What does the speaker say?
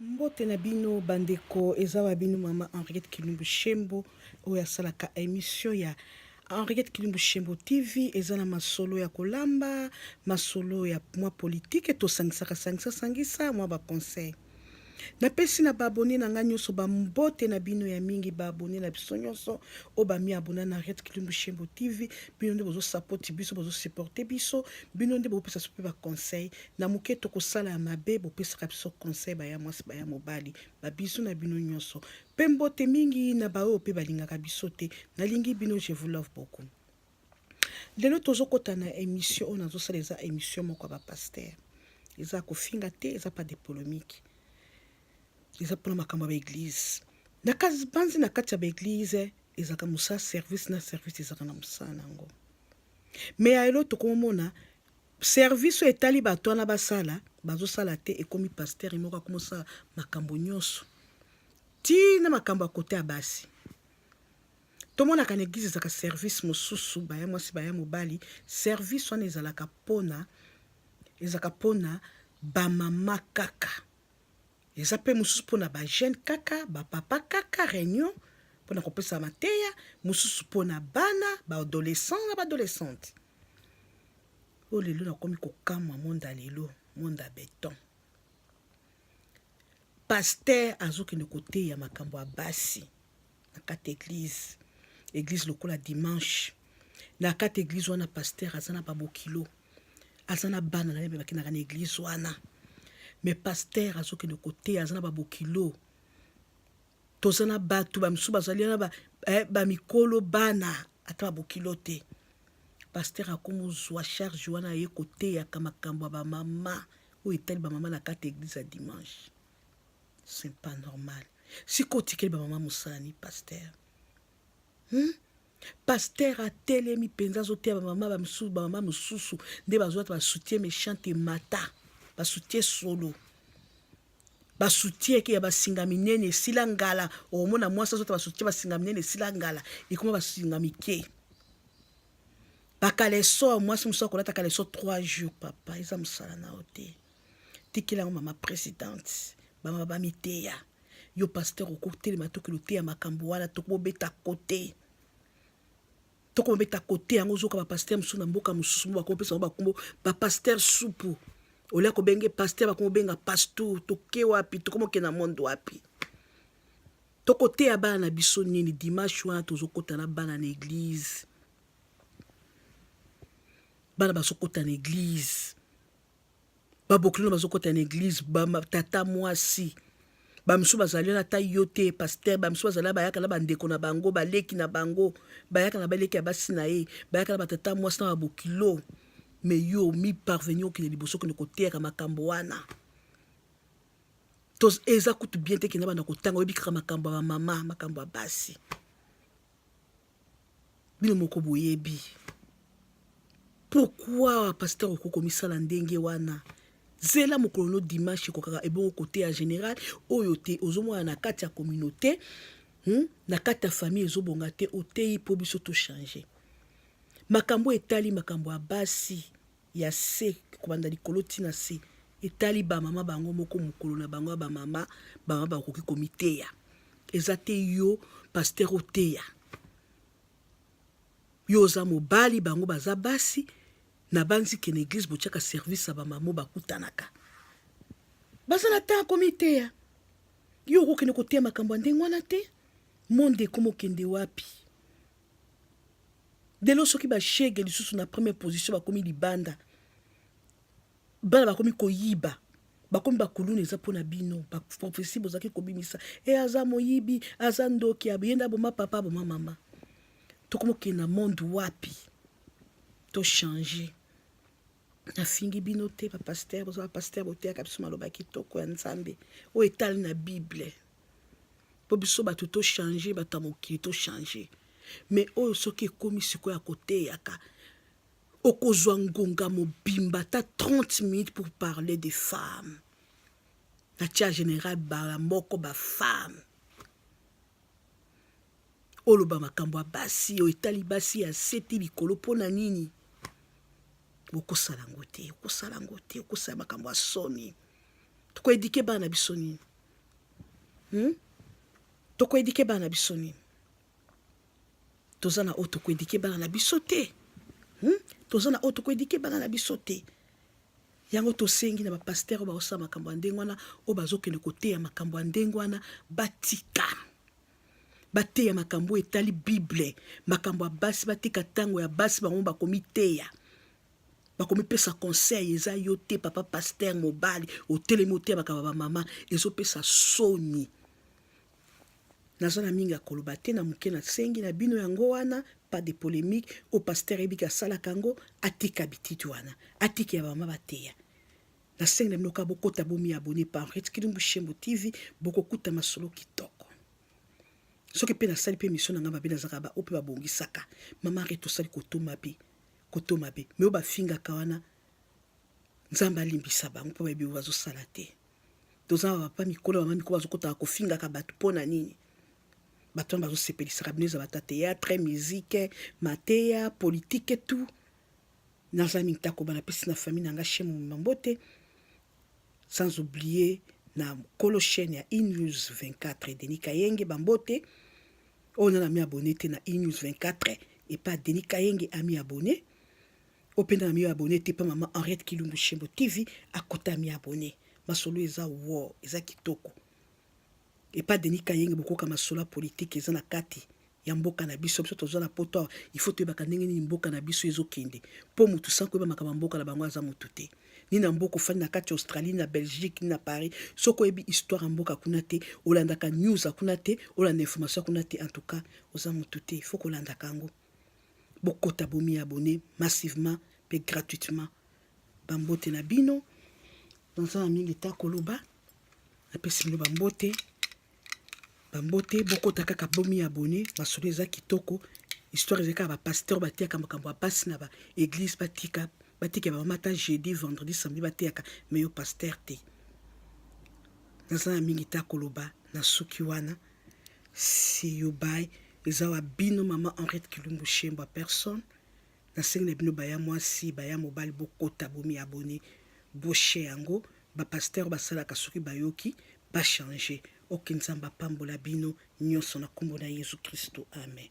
Mbote na bino bandeko, eza wa bino mama Henriette Kilumbu Shembo oyo asalaka emission ya Henriette Kilumbu Shembo TV eza na masolo ya kolamba, masolo ya mwa politique tosangisaka sangisa sangisa mwa ba conseil. Napesi na baabone na ngai nyonso bambote na bino ya mingi baabone na biso nyonso oyo bami abona na Henriette Kilumbu Shembo TV bino nde bozosapoti biso bozosupporte biso bino nde bopesa biso mpe baconseil na moke tokosala ya mabe bopesaka biso conseil baya mwasi baya mobali babizu na bino nyonso mpe mbote mingi na baoyo mpe balingaka biso te nalingi bino je vous love beaucoup lelo tozokota na émission oyo nazosala eza émission moko ya bapaster eza kofinga te eza pas de polemique eza mpona makambo ya baeglize na banzi na kati ya baeglize ezalaka mosala service na service ezalaka na mosala na yango me ya elo tokomona Service oyo etali batu wana basala bazo sala te ekomi pasteur ye moko akoma osala makambo nionso ti na makambo ya kote ya basi tomonaka na eglise ezalaka service mosusu baya mwasi baya mobali service wana ezalaka pona ezalaka pona bamama kaka eza mpe mosusu mpo na bajeune kaka bapapa kaka réunion mpo na kopesa mateya mosusu mpo na bana baadolescent na baadolescente Oyo lelo nakomi kokamwa monde ya lelo, monde ya beton. Pasteur azokende koteya makambo ya basi na kati eglise, eglise lokola dimanche. Na kati eglise wana pasteur aza na babokilo, aza na bana na ye bakendaka na eglise wana. Mais pasteur azokende koteya aza na babokilo. toza na bato bamisusu bazali wana ba, eh, bamikolo bana ata babokilo te paster akomozwa charge wana aye koteyaka makambo ya bamama oyo etali bamama na kati ya eglise ya dimanche c'est pas normal sikoyo otikeli bamama mosala ni paster hmm? Pasteur atelemi penza azoteya ba mama ba misusu ba mama mususu nde bazwata ba soutien méchant emata ba soutien solo ba soutien ke ya basinga minene esila ngala okomona mwasi azwata ba soutien basinga minene esila ngala ekoma basinga mike bakaleso mwasi mosusu akolata kaleso 3 jours papa eza mosala na yo te tikela yango mama presidente bamama bamiteya ba Yo pasteur okotelema tokilo te ya makambo wana tokobeta kote tokobeta kote yango ozoka bapasteur mosusu na mboka mosusu mo bakopesa yango bakombo bapasteur supu olia kobenge pasteur bakomobenga pastour toke wapi tokomoke na monde wapi tokoteya bana na biso nini dimanche wana tozokota na bana na eglize bana bazokota na eglize babokilo bazokota na eglize batata mwasi bamisu bazali wana ata yo te paster bamisu bazali bayaka na bandeko na bango baleki na bango bayaka na baleki ya basi na ye bayaka na batata mwasi na babokilo me yo mi parvenir okende liboso okende koteyaka makambo wana to eza kutu bien te kenda banda kotanga oyebi kaka makambo ya bamama makambo ya basi bino moko boyebi pourquoi pasteur oko komisala ndenge wana zela mokolo no dimanche ekokaka ebongo kote ya général oyo te ozomona na kati ya communauté hmm? na kati ya famille ezobonga te oteyi mpo biso tochange makambo etali makambo ya basi ya se kobanda likolo ti na se etali ba mama bango moko mokolo na bango ya ba mama bama bakoki komiteya eza te yo pasteur oteya yo oza mobali bango baza basi na banzi ke na eglise botiaka service ya bamamo bakutanaka baza na temps komiteya yo okokende koteya makambo ya ndenge wana te monde ekomokende wapi Lelo soki ba shege lisusu na première position bakomi libanda, bana bakomi koyiba bakomi bakuluna eza mpo na bino baprofesi bozalaki kobimisa e aza moyibi aza ndoki ye nde aboma papa aboma mama tokomokende na monde wapi tochange nafingi bino te bapaster boza bapaster boteyaka biso maloba kitoko ya nzambe oyo etali na bible po biso bato to changer bato ya mokili to changer mais oyo soki ekomi sikoyo ya koteyaka okozwa ngonga mobimba ata 30 minutes pour parler des femmes na tia général bara moko bafemme oloba makambo ya basi oyo etali basi ya seti likolo mpo na nini bokosala yango te okosala yango te okosala makambo ya soni tokoedike bana biso nini hmm? tokoedike bana na biso nini toza na oyo tokoedike bana na biso te hmm? toza na oyo tokoedike bana na biso te yango tosengi na bapastere oyo baosala makambo ya ndenge wana oyo bazokende koteya makambo ya ndenge wana batika bateya makambo oyo etali bible makambo ya basi batika ntango ya basi bango bakomiteya bakomipesa conseil eza yo te papa pasteur mobali otelemi oteyabaka ba bamama ezopesa soni naza na mingi ya koloba te na moke nasengi na bino yango wana pas de polémique o pasteur ebiki asalaka yango atika bititi wana atika ya bamama bateya nasengi na bino kaka bokota bomi abone pa henriette kilimbu shembo tv bokokuta masolo kitoko soki mpe nasali mpe misio na ngai mabe nazalaka baoyo mpe babongisaka mama rete osali kotoma mpe koto mabe me oyo bafingaka wana nzambe alimbisa bango mpo bayebi oyo bazosala te toza na bapapa mikolo bama mikolo bazokotaka kofingaka bato mpo na nini bato wana bazosepelisaka bino eza bata théâtre musike mateya politike tout naza mintako banapesi na famille na nga shemu mambote Sans oublier na kolo chaîne ya Inews 24 Denis Kayenge bambote oyo nana mi abonné te na Inews 24 epa Denis Kayenge ami abonné oyo mpe nana mi abonné te epa mama Henriette Kilumbu Shembo TV akota ami abonné masolo eza wo eza kitoko Epa Denis Kayenge bokoka masolo ya politique eza na kati ya mboka na biso biso toza na poto awa il faut toyebaka ndenge nini mboka na biso ezokende mpo motu sans koyeba makambo ya mboka na bango aza motu te ni na mboka ofandi na kati ya australie na belgique ni na paris soki oyebi histoire ya mboka kuna te olandaka news ya kuna te olanda information ya kuna te en tout cas oza motu te il faut kolandaka yango bokota bomi abonne massivement mpe gratuitement bambote na bino naza na mingi ta koloba napesi bino bambote bambote bokota kaka bomi ya bone masolo eza kitoko histoire eza kaka bapasteur batiyaka makambo ya basi na baeglise batika batika ya bamama ata jeudi vendredi samedi bateyaka me yo pasteur te naza na mingi te akoloba nasuki wana see you by eza wa bino mama henriette kilumbu shembo ya personne Nasengi na bino baya mwasi baya mobali bokota bomi abonner boshe yango ba pasteur basalaka soki bayoki ba changer ok nzambe apambola bino nionso na kombo na yesu christo amen.